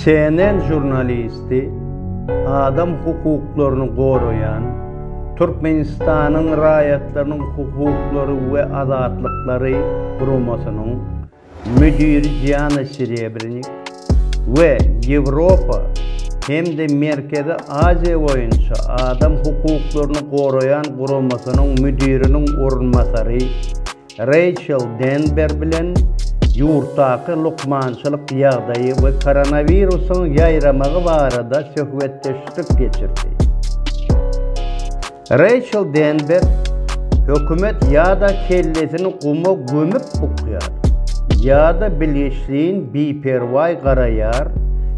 CNN žurnalisti adam hukuklaryny goraýan Türkmenistanyň raýatlarynyň hukuklary we azatlyklary guramasynyň müdiri Diana Serebrenik we Ýewropa hem-de Merkezi Aziýa boýunça adam hukuklaryny goraýan guramasynyň müdiriniň orunbasary Reýçel Denber bilen ýurtdaky lukmançylyk ýagdaýy we koronawirusyň ýaýramagy barada söhbetdeşlik geçirdi. Reýçel Denber, Hökümet ýa-da kellesini guma gömüp ukýar, ýa-da bilgiçleýin biperwaý garaýar,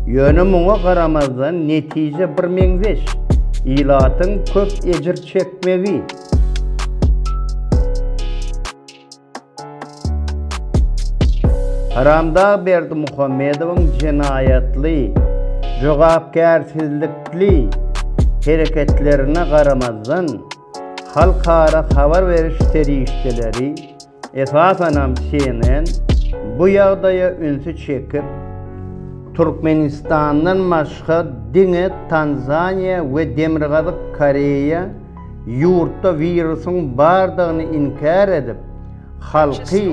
ýöne muňa garamazdan netije birmeňzeş, ilatyň köp ejir çekmegi. Haramdag Berdimuhamedowyň jenaýatly, jogapkärsizlikli hereketlerine garamazdan, halkara habar beriş serişdeleri, Esasanam CNN bu ýagdaýa ünsi çekip, Türkmenistandan başga diňe Tanzaniýa we Demirgazyk Koreýa ýurtda wirusyň bardygyny inkär edip, halky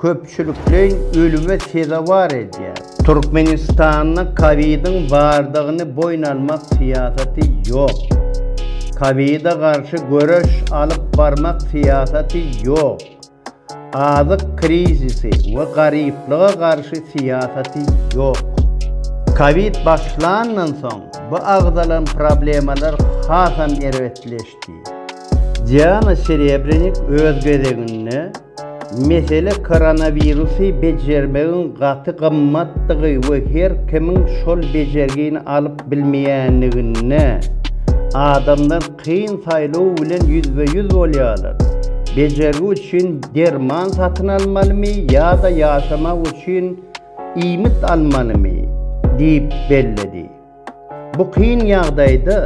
köpçülikleýin ölüme sezewar edýär. Türkmenistanda Covid-iň bardygyny boýun almak syýasaty ýok. Covid-a garşy göreş alyp barmak syýasaty ýok. Azyk krizisi we garyplyga garşy syýasaty ýok. Covid başlandan soň bu agzalan problemalar hasam erbetleşdi. Diana Serebrenik öz gezeginde, Mesele koronawirusy bejermegiň gaty gymmatdygy we her kimiň şol bejergini alyp bilmeýänliginde, adamlar kyn saýlaw bilen ýüzbe-ýüz bolýarlar, bejergi üçin derman satyn almalymy ýa-da ýaşamak üçin iýmit almalymy? diýip belledi. Bu kyn ýagdaýda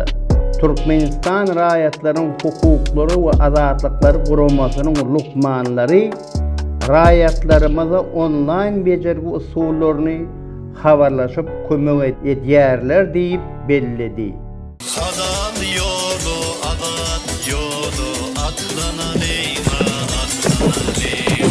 Türkmenistan raýatlaryň hukuklary we azatlyklary guramasynyň lukmanlary raýatlarymyza onlaýn bejergi usullaryny habarlaşyp kömek edýärler diýip belledi. Halal ýola azat ýola atlanalyň a atlanalyň.